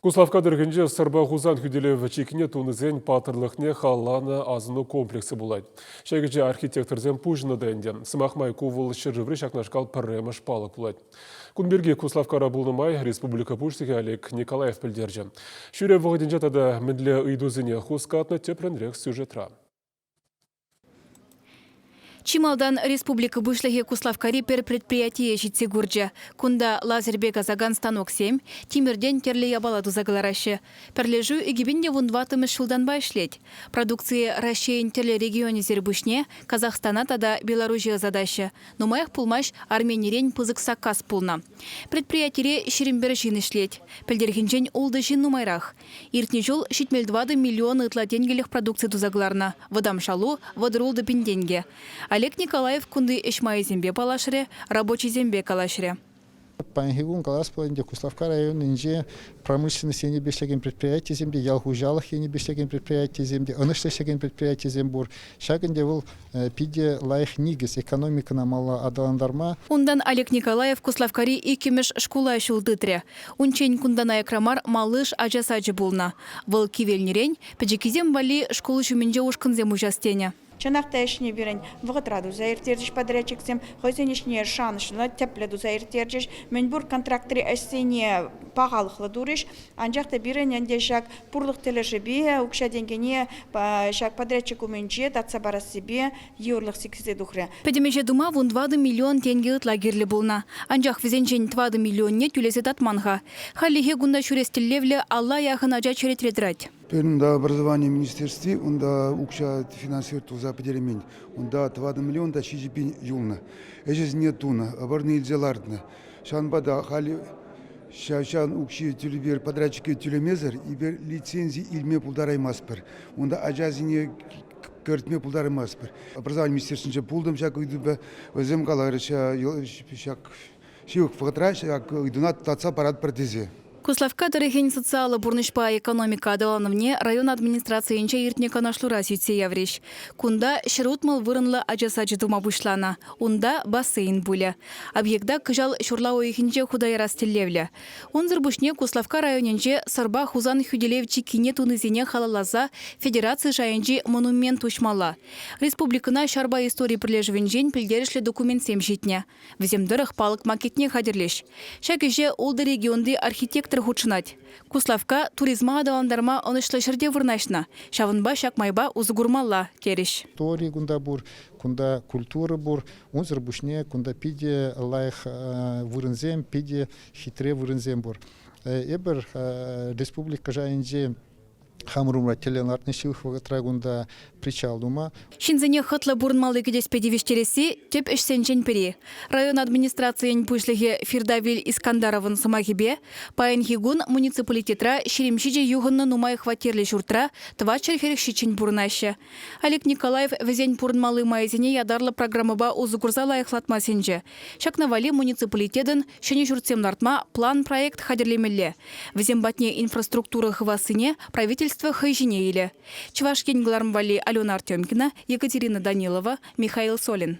Куславкка тӑрӑхӗнче Сӑрпа Хусан хӳтӗлев чиккине тунисен паттӑрлӑхне халланӑ асӑну комплексӗ пулать. Ҫак ӗҫе архитекторсем пуҫӑннӑ та ӗнтӗ. Сӑмах май, ку вӑл ҫӗршыври ҫакнашкал пӗрремӗш палӑк пулать. Кун пирки Куславккара пулнӑ май республика Пуҫлӑхӗ Олег Николаев пӗлтерчӗ. Ҫӳрев вӑхӑтӗнче тата мӗнле ыйтусене хускатнӑ тепринрех сюжетра. Чи малтан республика Пуҫлӑхӗ Куславккари пӗр предприятие ҫитсе курчӗ. Кунта лазерпе касакан станоксем, тимӗртен тӗрлӗ япала туса кӑлараҫҫӗ. Пӗрлешӳ икӗпин те вун ваттӑмӗш ҫултанпа ӗҫлет. Продукцие Раҫҫейӗн тӗрлӗ регионӗсӗр пуҫне Казахстана тата Беларуҫе ӑсатаҫҫӗ. Нумаях пулмасть Арменирен пысӑк саккас пулнӑ. Предприятире ҫирӗм пӗр ҫын ӗҫлет. Пӗлтӗрхинчен ултӑ ҫын нумайрах. Иртнӗ ҫул ҫитмӗл тӑватӑ миллион ытла тенкӗлӗх продукци туса кӑларнӑ. Вӑтам шалу, вӑтӑр-ултӑ пин тенкӗ. Олег Николаев кунти ӗҫ майӗсемпе паллашрӗ, рабочисемпе калаҫрӗ. Паянхи кун калас пулать ӗнтӗ, Куславкка районӗнче промышленность енӗпе ӗҫлекен предприятийӗсем те, ял хуҫалӑх енӗпе ӗҫлекен предприятийӗсем те, ӑнӑҫлӑ ӗҫлекен предприятийӗсем пур. Ҫак ӗнтӗ вӑл питӗ лайӑх никӗс экономикӑна малалла аталантарма. Унтан Олег Николаев Куславккари иккӗмӗш шкула ҫул тытрӗ. Унччен кунтан аякра мар малыш ача сачӗ пулнӑ. Вӑл кивелнӗрен пӗчӗккисем валли шкул ҫумӗнче ушкӑнсем уҫас тенӗ. Чӑнах та ӗҫне пирӗн вӑхӑтра туса ирттерчӗҫ подрядчиксем, хӑйсен ӗҫне шанӑҫлӑ, тӗплӗ туса ирттерчӗҫ. Мӗнпур контрактри ӗҫсене пахалӑхлӑ турӗҫ, анчах та пирӗн ӗнтӗ ҫак пурлӑх тӗлӗшӗпе укҫа-тенкӗне ҫак подрядчик умӗнче татса парассипе йывӑрлӑх сиксе тухрӗ. Пӗтӗм ӗҫе тума вун тӑватӑ миллион тенкӗ ытла кирлӗ пулнӑ. Анчах вӗсенчен тӑватӑ миллионне тӳлесе татман-ха. Хальлӗхе кунта ҫӳрес тӗллевлӗ алла яхӑн ача черетре тӑрать. Пирӗн образовани министерстви унта укҫа финансировать туса пӗтермен. Унта тӑватӑ миллион та ҫичӗ пин юлнӑ. Ӗҫӗсене тунӑ, вӑрнӑ илсе лартнӑ. Ҫавӑнпа та халӗ ҫав укҫи тӳлевер подрядчике тӳлемесӗр лицензи илме пултараймастпӑр. Унта ачасене кӗртме пултараймастпӑр. Образование министерствинче пултӑм ҫак ыйтупа, вӗсем каларӗҫ ҫак ҫывӑх вӑхӑтра ҫак ыйтуна татса паратпӑр тесе. Куславкка тӑрӑхӗн социаллӑ пурнӑҫпа экономика аталанӑвне район администрацийӗнче иртнӗ канашлура сӳтсе яврӗҫ. Кунта ҫӗр утмӑл вырӑнлӑ ача сачӗ тума пуҫланӑ. Унта бассейн пулӗ. Объекта кӑҫал ҫурла уйӑхӗнче хута ярас тӗллевлӗ. Унсӑр пуҫне Куславкка районӗнче Сӑрпа Хусан хӳтӗлев чиккине тунисене халалласа федераци шайӗнчи монумент уҫмалла. Республикӑна ҫарпа истори пӗрлешӗвӗнчен пӗлтерӗшлӗ документсем ҫитнӗ. Вӗсем тӑрӑх палӑк макетне хатӗрлӗҫ. Ҫак ӗҫе ултӑ регионти архитектор хутшӑнать. Куславкка туризма аталантарма ӑнӑҫлӑ ҫӗрте вырнаҫнӑ, ҫавӑнпа ҫак майпа усӑ курмалла, терӗҫ. Тори кунта пур, кунта культура пур. Унсӑр пуҫне кунта питӗ лайӑх вырӑнсем, питӗ хитре вырӑнсем пур. Эпир республика шайӗнче Хамӑр умра тӗллев лартнӑ ҫывӑх вӑхӑтра кунта причал тума. Ҫынсене хӑтлӑ пурӑнмалли кӗтеспе тивӗҫтересси тӗп ӗҫсенчен пӗри. Район администрацийӗн пуҫлӑхӗ Фирдавиль Искандаровӑн сӑмахӗпе, паянхи кун муниципалитетра ҫирӗм ҫичӗ юхӑннӑ нумай хваттерлӗ ҫуртра тӑватҫӗр хӗрӗх ҫиччӗн пурӑнаҫҫӗ. Олег Николаев вӗсен пурӑнмалли майӗсене ятарлӑ программӑпа усӑ курса лайӑхлатма сӗнчӗ. Ҫакна валли муниципалитетӑн ҫӗнӗ ҫуртсем лартма план-проект хатӗрлемелле. Вӗсем патне инфраструктура хывассине правительство хӑй ҫине илӗ. Чӑваш Ен кӑларӑм валли Алена Артемкина, Екатерина Данилова, Михаил Солин.